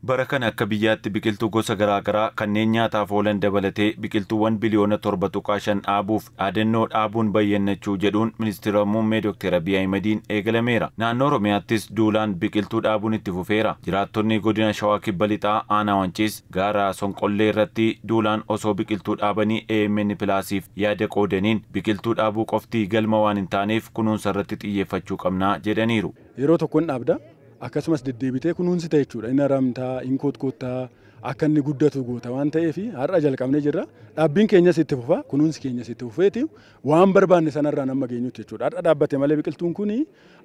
Bara kana akka biyyaatti biqiltuu gosa garaagaraa kanneen nyaataaf oolan dabalatee biqiltuuwwan biliyoona 7.5 dhaabuuf dhaadannoo Dhaabuun Bayyannachuu jedhuun Ministira Muummee Dokteer Abiy Ahimadiin eegalameera. Naannoo Oromiyaattis duulaan biqiltuu dhaabuun itti fufeera. Jiraattonni Godina Shawaa Kibba Lixaa Aanaa Wanciis gaara Sonqollee irratti duulaan osoo biqiltuu dhaabanii amn Pilaasiif yaada qoodaniin biqiltuu dhaabuu qofti galma waan hin taaneef kunuunsa irratti xiyyeeffachuu qabna jedhaniiru. Yeroo tokko in dhaabda, akkasumas deddeebitee kunuunsita jechuudha. In haramta, in kotkootta, akka inni guddatu goota waan ta'eef har'a jalqabnee jirra. Dhaabbiin keenyas itti fufa, kunuunsi keenyas itti fufeeti waan barbaanne sanarraan amma geenyutti jechuudha. Har'a dhaabbate malee biqiltuun kun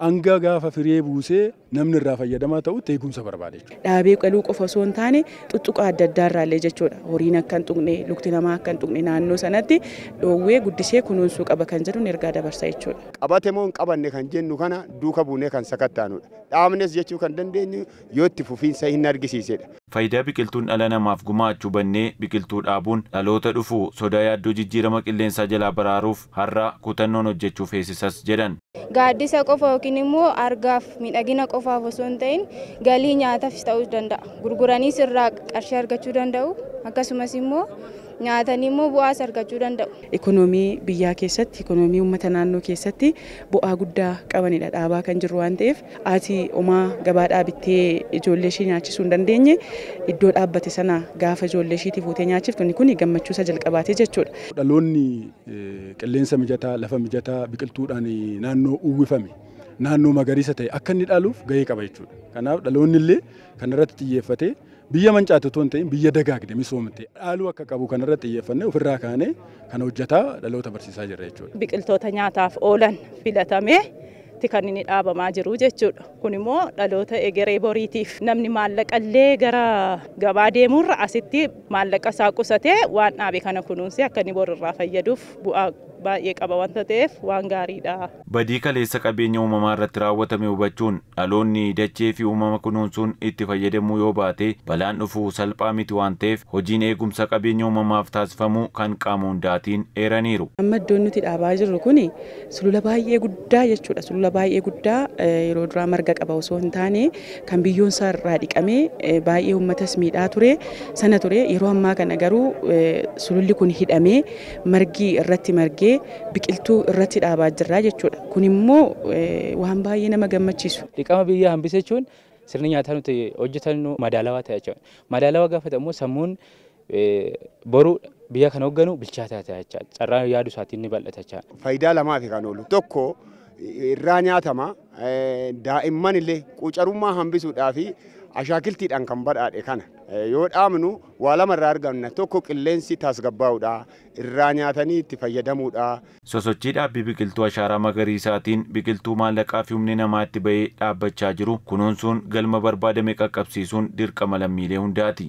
hanga gaafa firee buusee namni irraa fayyadamaa ta'utti eegumsa barbaada jechuudha. Dhaabee qaluu qofa osoo hin taane xuxxuqaa adda addaa irraallee jechuudha horiin akka hin tuqne lukti namaa akka hin tuqne naannoo sanatti dhoowwee guddisee kunuunsuu qaba kan jedhuun ergaa dabarsa jechuudha. Qabate moo hin qabanne kan jennu kana duuka buunee kan sakattaanudha. Dhaabnes jechuu kan dandeenyu yoo itti fufiinsa hin argisiisedha. Fayidaa biqiltuun dhala namaaf gumaachu hubannee biqiltuu dhaabuun dhaloota dhufu sodaa yaaddoo jijjiirama qilleensaa jalaa baraaruuf har'a kutannoon hojjechuu feesisas jedhan. Gaaddisa qofa yookiin immoo argaaf miidhagina qofaaf osoo hin ta'in galii nyaatafis ta'uu danda'a. Gurguraniis irraa qarshii argachuu danda'u. Akkasumas immoo nyaatanii immoo bu'aas argachuu danda'u. Ikonoomii biyyaa keessatti, ikonoomii uummata naannoo keessatti bu'aa guddaa qabanidha dhaabaa kan jirru waan ta'eef haati omaa gabaadhaa bittee ijoollee ishii nyaachisuu hin dandeenye iddoo dhaabbate sana gaafa ijoollee ishiitii fuutee nyaachiftu inni kun gammachuu isa jalqabaati jechuudha. Dhaloonni qilleensa mijataa, lafa mijataa biqiltuudhaan naannoo uwwifame, naannoo magariisa ta'e akka inni dhaaluuf gahee qaba jechuudha. Kanaaf dhaloonni illee kanarratti xiyyeeffatee biyya mancaate otoo hin ta'in biyya dagaagde misoomte dhaaluu akka qabu kanarratti xiyyeeffannee ofirraa kaanee kana hojjetaa dhaloota barsiisaa jirra jechuudha. Biqiltoota nyaataaf oolan filatamee ti kan inni dhaabamaa jiru jechuudha. Kun immoo dhaloota egeree boriitiif namni maallaqa illee gara gabaa deemuu irra asitti maallaqa isaa qusatee waan dhaabe kana kunuunsee akka inni bor irraa fayyaduuf bu'aa baay'ee qaba wanta ta'eef waan gaarii dha. Badii kaleessa qabeenya uumamaa irratti raawwatame hubachuun dhaloonni dachee fi uumama kunuunsuun itti fayyadamuu yoo baate balaan dhufu salphaa miti waan ta'eef hojiin eegumsa qabeenya uumamaaf taasifamu kan qaama hundaatiin eeraniiru. Amma iddoon nuti dhaabaa jirru kun Sulula baay'ee guddaa jechuudha. Sulula baay'ee guddaa yeroo duraa marga qaba osoo hin taane kan biyyoon isaa irraa dhiqamee baay'ee uummatas miidhaa ture sana ture. Yeroo ammaa kana garuu sululli kun hidhamee margi irratti margee biqiltuu irratti dhaabaa jirra jechuudha. Kun immoo waan baay'ee nama gammachiisu. Dhiqama biyyaa hambisa jechuun sirni nyaataa nuti hojjetannu madaalawaa ta'a jechuudha. Madaalawaa gaafa ta'u immoo sammuun Boru biyya kan hoogganu bilchaataa ta'a jecha. Carraan yaadu isaatiin ni bal'ata jecha. Faayidaa lamaafi kan oolu. Tokko irraa nyaatama. Daa'imman illee quucarummaa hambisuudhaa fi ashaakiltiidhaan kan badhaadhe kana yoo dhaabnu waa lama irraa arganna. Tokko qilleensi tasgabbaa'udha. Irraa nyaatanii itti fayyadamuudha. Sosochii dhaabbii biqiltuu ashaaraa magariisaatiin biqiltuu maallaqaa fi humni namaa itti bahee dhaabbachaa jiru kunuunsuun galma barbaadame qaqqabsiisuun dirqama lammiilee hundaati.